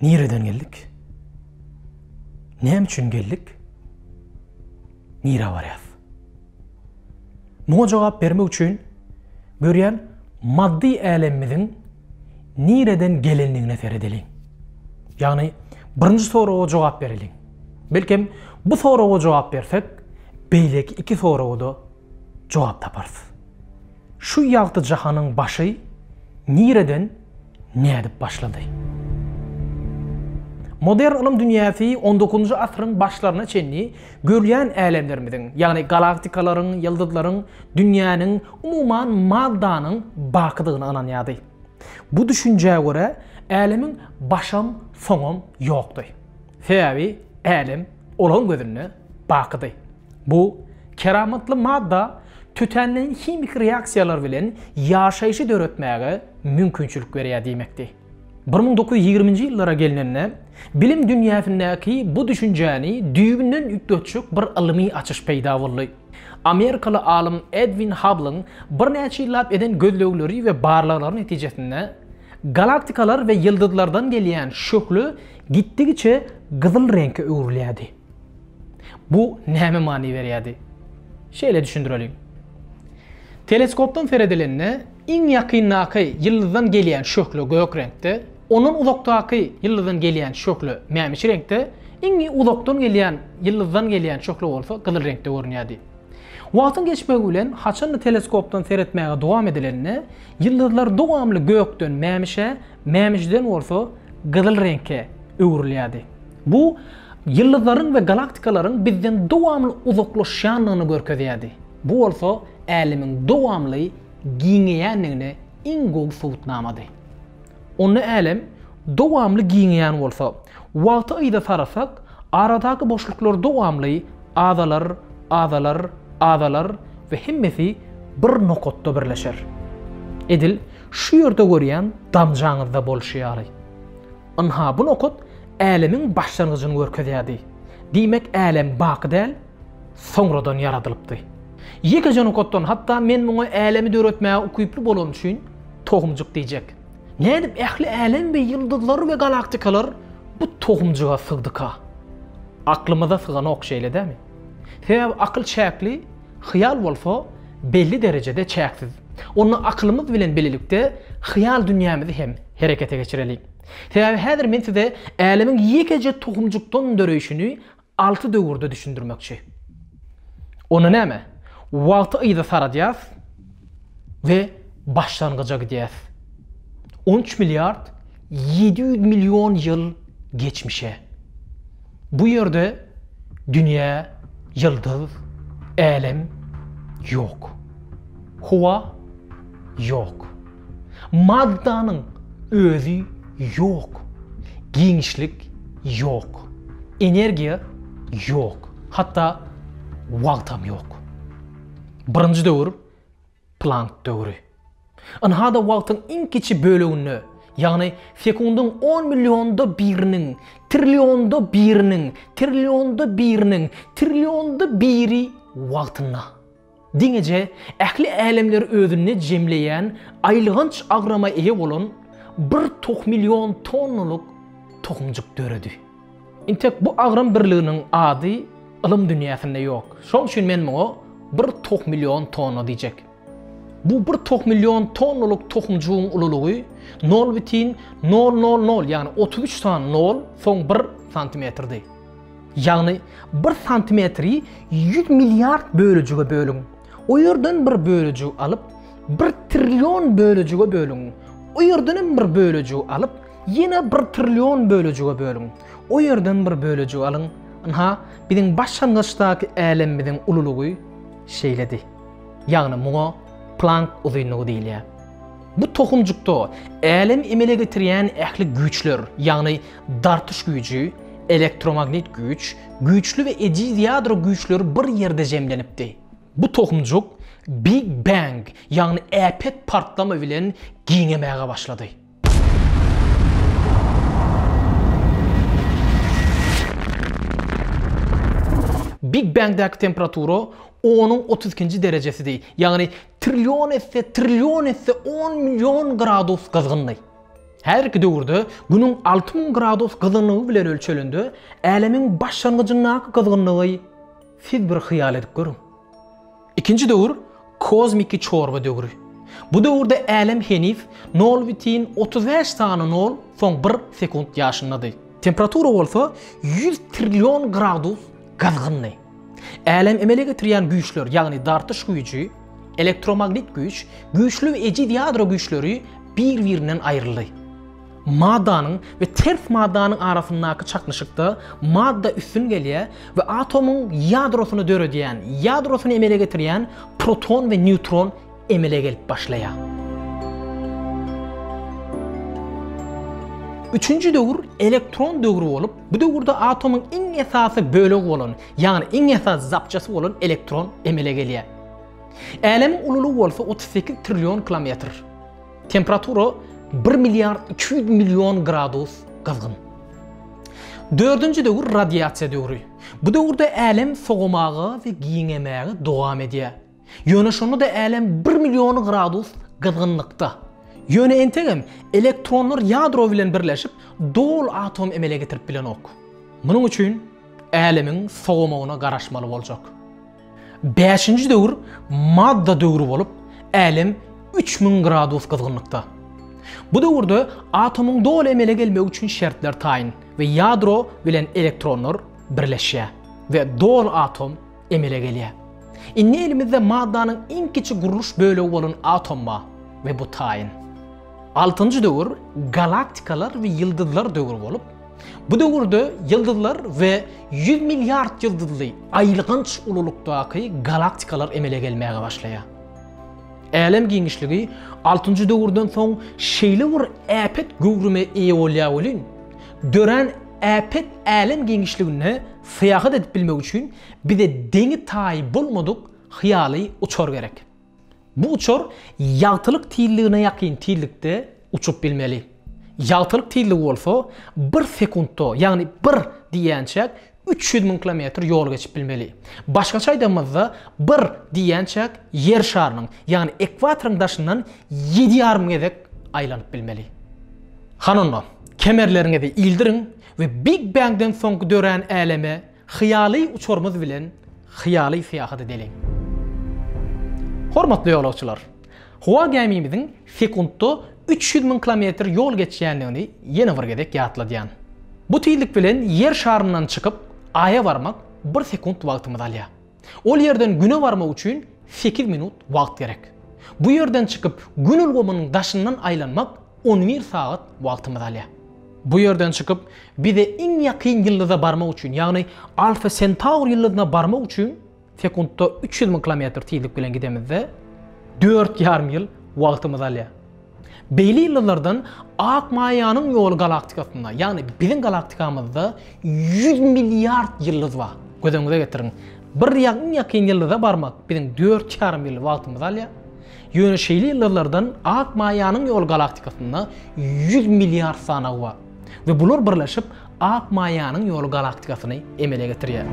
Nireden geldik? Näme üçin geldik? Nirä barýas? Muňa jogap bermek üçin görýän maddy älemimiziň nireden gelendigine seredeliň. Ýagny birinji soraga jogap bereliň. Belkem bu soraga jogap bersek, beýleki iki soraga-da jogap taparys. Şu ýagty jahanyň başy nireden, nädip başlady? Modern ylym dünýäsi on dokuzynjy asyryň başlaryna çenli görýän älemlerimiziň, ýagny galaktikalaryň, ýyldyzlaryň, dünýäniň, umuman maddanyň bakydygyna ynanýardy. Bu düşünjä görä, älemiň başam, soňam ýokdy. Sebäbi älem. Olaryň gözünde bakydy. Bu keramatly madda tötänleýin himiki reaksiýalar bilen ýaşaýşy döretmäge mümkinçilik berýär diýmekdi. Bir müň dokuz ýüz ýigriminji ýyllara gelnende, bilim dünýäsindäki bu düşünjäni düýbünden üýtgetjek bir ylmy açyş peýda boldy. Amerikaly alym Edwin Habblyň birnäçe ýyllap eden gözlegleri we barlaglary netijesinde, galaktikalar we ýyldyzlardan gelýän şöhle Gitdigiçe gyzyl reňke öwrülýärdi. Bu nämä many berýärdi? Şeýle düşündireliň. Teleskopdan seredilende iň ýakyndaky ýyldyzdan gelýän şöhle gök reňkde, ondan uzakdaky ýyldyzdan gelýän şöhle mämişi reňkde, iň uzakdan gelýän ýyldyzdan gelýän şöhle bolsa gyzyl reňkde görünýärdi. Wagtyň geçmegi bilen haçanda teleskopdan seretmäge dowam edilende, ýyldyzlar dowamly gökden mämişe, Mämişden bolsa gyzyl reňke öwrülýärdi. Bu ýyldyzlaryň we galaktikalaryň bizden dowamly uzaklaşýandygyny görkezýärdi. Bu bolsa Älemiň dowamly giňeýändigine iň gowy subutnamady. Onda Älem dowamly giňeýän bolsa, wagty yza sarasak, aradaky boşluklar dowamly azalar, azalar, azalar we hemmesi bir nokatda birleşer. Edil Şu ýerde görýän damjaňyzda bolşy ýaly. Ynha, bu nokat älemiň başlangyjyny görkezýärdi. Diýmek, älem baky däl, soňradan ýaradylypdy. Ýekeje nokatdan, hatda men muňa älemi döretmäge ukyply bolany üçin tohumjyk diýjek. Nädip ähli älem we ýyldyzlar we galaktikalar bu tohumjyga sygdyka? Aklymyza syganok, şeýle dämi? Sebäbi akyl çäkli. Hyýal bolsa belli derejede çäksiz. Onda akylymyz bilen bilelikde hyýal dünýämizi hem herekete geçireliň. Sebäbi häzir men size älemiň ýekeje tohumjykdan döreýşini alty döwürde düşündirmekçi. Onda näme? Wagty yza saradýas we başlangyja gidýäs. On üç milliard ýedi ýüz million ýyl geçmişe. Bu ýerde dünýä, ýyldyz, älem ýok. Howa ýok. Maddanyň özi ýok. Giňişlik ýok. Energiýa ýok. Hatda wagtam ýok. Birinji döwür Plank döwri. Ynha-da wagtyň iň kiçi böleginde, ýagny sekundyň on millionda biriniň, trillionda biriniň, trillionda biriniň, trillionda biri wagtynda. Diňeje ähli älemleri özünde jemleýän aýylganç agrama eýe bolan bir tohmillion tonnalyk tohumjyk döredi. Intek bu agram birliginiň ady ylym dünýäsinde ýok. Şoň üçin men muňa bir tohmillion tonna diýjek. Bu bir tohmillion tonnalyk tohumjygyň ululygy nol bitin nol nol nol, ýagny otuz üç sany nol, soň bir santimetrdi. Ýagny bir santimetri ýüz milliard bölejige bölüň. O ýerden bir bölejigi alyp, bir trillion bölejige bölüň. O ýerden hem bir bölejigi alyp, ýene bir trillion bölejige bölüň. O ýerden bir bölejigi alyň. Ynha, biziň başlangyçdaky älemimiziň ululygy şeýledi. Ýagny muňa Plank uzynlygy diýilýär. Bu tohumjykda älemi emele getirýän ähli güýçler, ýagny Dartyş güýji, elektromagnit güýç, güýçli we ejiz ýadro güýçleri bir ýerde jemlenipdi. Bu tohumjyk Big Bang, ýagny äpet partlama bilen giňemäge başlady. Big Bangdäki temperatura onuň otuz ikinji derejesidi, ýagny trillion esse, trillion esse on million gradus gyzgyndy. Häzirki döwürde Günüň alty müň gradus gyzgynlygy bilen ölçelende, Älemiň başlangyjyndaky gyzgynlygy siz bir hyýal edip görüň. Ikinji döwür kozmiki çorba döwri. Bu döwürde Älem heniz nol bütin otuz bäş sany nol soň bir sekunt ýaşyndady. Temperatura bolsa ýüz trillion gradus gyzgyndy. Älemi emele getirýän güýçler, ýagny dartyş güýji, elektromagnit güýç, güýçli we ejiz ýadro güýçleri bir-birinden aýryldy. Maddanyň we ters maddanyň arasyndaky çaknyşykda madda üstün gelýär we atomyň ýadrosyny döredýän, ýadrosyny emele getirýän proton we neutron emele gelip başlaýar. Üçünji döwür elektron döwri bolup, bu döwürde atomyň iň esasy bölegi bolan, ýagny iň esasy zapçasy bolan elektron emele gelýär. Älemiň ululygy bolsa 38 trillion kilometr. Temperatura bir milliard iki ýüz million gradus gyzgyn. Dördünji döwür radiasiýa döwri. Bu döwürde älem sogamaga we giňemäge dowam edýär. Ýöne şonda-da älem bir million gradus gyzgynlykda. Ýöne entegem elektronlar ýadro bilen birleşip, doly atom emele getirip bilenok. Munuň üçin älemiň sowamagyna garaşmaly boljak. Bäşinji döwür madda döwri bolup, älem üç müň gradus gyzgynlykda. Bu döwürde atomyň doly emele gelmegi üçin şertler taýyn we ýadro bilen elektronlar birleşýär we doly atom emele gelýär. Indi elimizde maddanyň iň kiçi gurluş bölegi bolan atom bar we bu taýyn. Altynjy döwür galaktikalar we ýyldyzlar döwri bolup, bu döwürde ýyldyzlar we ýüz milliard ýyldyzly aýylganç ululykdaky galaktikalar emele gelmäge başlaýar. Älem giňişligi altynjy döwürden soň şeýle bir äpet göwrüme eýe bolýar welin, dörän Äpet älem giňişliginde syýahat edip bilmek üçin bize deňi-taýy bolmadyk hyýaly uçar gerek. Bu uçar ýagtylyk tizligine ýakyn tizlikde uçup bilmeli. Ýagtylyk tizligi bolsa bir sekuntda, ýagny bir diýýänçäk üç ýüz müň kilometr ýol geçip bilmeli. Başgaça aýdanymyzda, bir diýýänçäk Ýer şarynyň, ýagny ekwatoryň daşyndan ýedi ýarym gezek aýlanyp bilmeli. Hany onda, Kemerleriňizi ildiriň we Big Bangden soňky dörän äleme hyýaly uçarymyz bilen hyýaly syýahat edeliň. Hormatly ýolagçylar! Howa gämimiziň sekuntda üç ýüz müň kilometr ýol geçýändigini ýene bir gezek ýatladýan. Bu tizlik bilen Ýer şaryndan çykyp, Aýa barmak bir sekunt wagtymyzy alýar. Ol ýerden Güne barmak üçin sekiz minut wagt gerek. Bu ýerden çykyp Gün ulgamynyň daşyndan aýlanmak on bir sagat wagtymyzy alýar. Bu ýerden çykyp bize iň ýakyn ýyldyza barmak üçin, ýagny Alfa Sentaur ýyldyzyna barmak üçin sekuntda üç ýüz müň kilometr tizlik bilen gidemizde dört ýarym ýyl wagtymyzy alýar. Beýle ýyllardan Ak Maýanyň ýoly galaktikasynda, ýagny biziň galaktikamyzda ýüz milliard ýyldyz bar. Göz öňüňize getiriň, bir ýa iň ýakyn ýyldyza barmak biziň dört ýarym ýyl wagtymyzy alýar. Ýöne şeýle ýyldyzlardan Ak Maýanyň ýoly galaktikasynda ýüz milliard sanawy bar we bular birleşip Ak maýanyň ýoly galaktikasyny emele getirýär.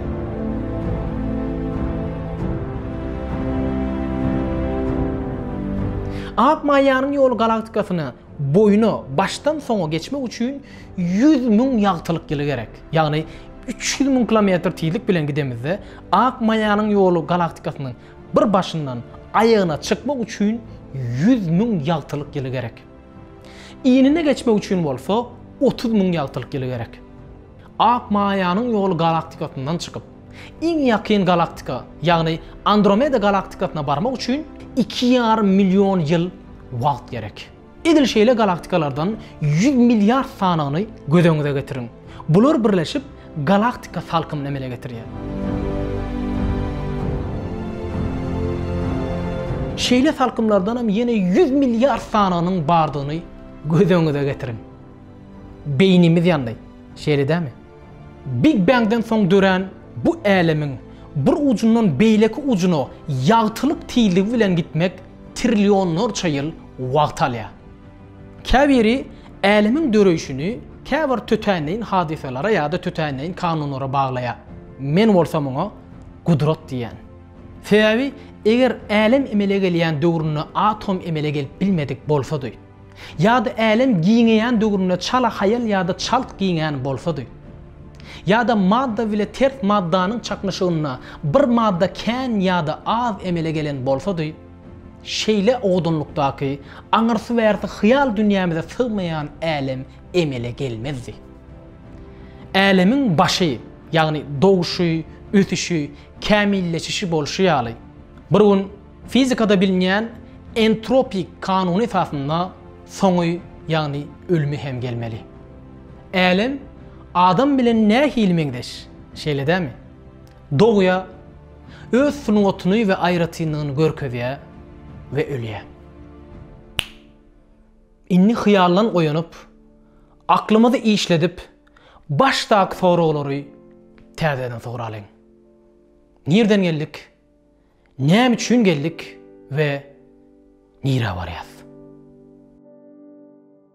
Ak maýanyň ýoly galaktikasyny boýuna başdan soňa geçmek üçin 100 müň ýagtylyk ýyly gerek. Ýagny 300 müň kilometr tizlik bilen gidemizde, ak maýanyň ýoly galaktikasynyň bir başyndan aýagyna çykmak üçin 100 müň ýagtylyk ýyly gerek. Iýnine geçmek üçin bolsa otuz müň ýagtylyk ýyly gerek. Ak maýanyň ýoly galaktikasyndan çykyp, iň ýakyn galaktika, ýagny Andromeda galaktikasyna barmak üçin iki ýarym million ýyl wagt gerek. Edil şeýle galaktikalardan ýüz milliard sanyny göz öňüňize getiriň. Bular birleşip, Galaktika salkymyny emele getirýär. Şeýle salkymlardan hem ýene ýüz milliard sanagynyň bardygyny göz öňüňize getiriň. Beýnimiz ýandy. Şeýle dälmi? Big Bang-den soň dörän bu älemiň bir ujundan beýleki ujuna ýagtylyk tizligi bilen gitmek trillionlarça ýyl wagt alýar. Käbiri älemiň döreýşini käbir tötänleýin hadysalara ýa-da tötänleýin kanunlara baglaýar. Men bolsa muňa gudrat diýýän. Sebäbi eger älem emele gelýän döwründe atom emele gelip bilmedik bolsady, ýa-da älem giňeýän döwründe çala haýal ýa-da çalt giňän bolsady, ýa-da madda bile ters maddanyň çaknyşygynda bir madda kän ýa-da az emele gelen bolsady, Şeýle owadanlykdaky, aňyrsy-bärsi hyýal dünýämize sygmaýan älem emele gelmezdi. Älemiň başy, ýagny doguşy, ösüşi, kämilleşişi bolşy ýaly, bir gün fizikada bilinýän entropik kanuny esasynda soňy, ýagny ölümi hem gelmeli. Älem adam bilen nähili meňzeş, şeýle dämi? Dogýa. Öz sungatyny we aýratynlygyny görkezýär we ölýär. Indi hyýaldan oýanyp, aklymyzy işledip, başdaky soraglary täzeden soralyň. Nirden geldik? Näme üçin geldik we nirä barýas?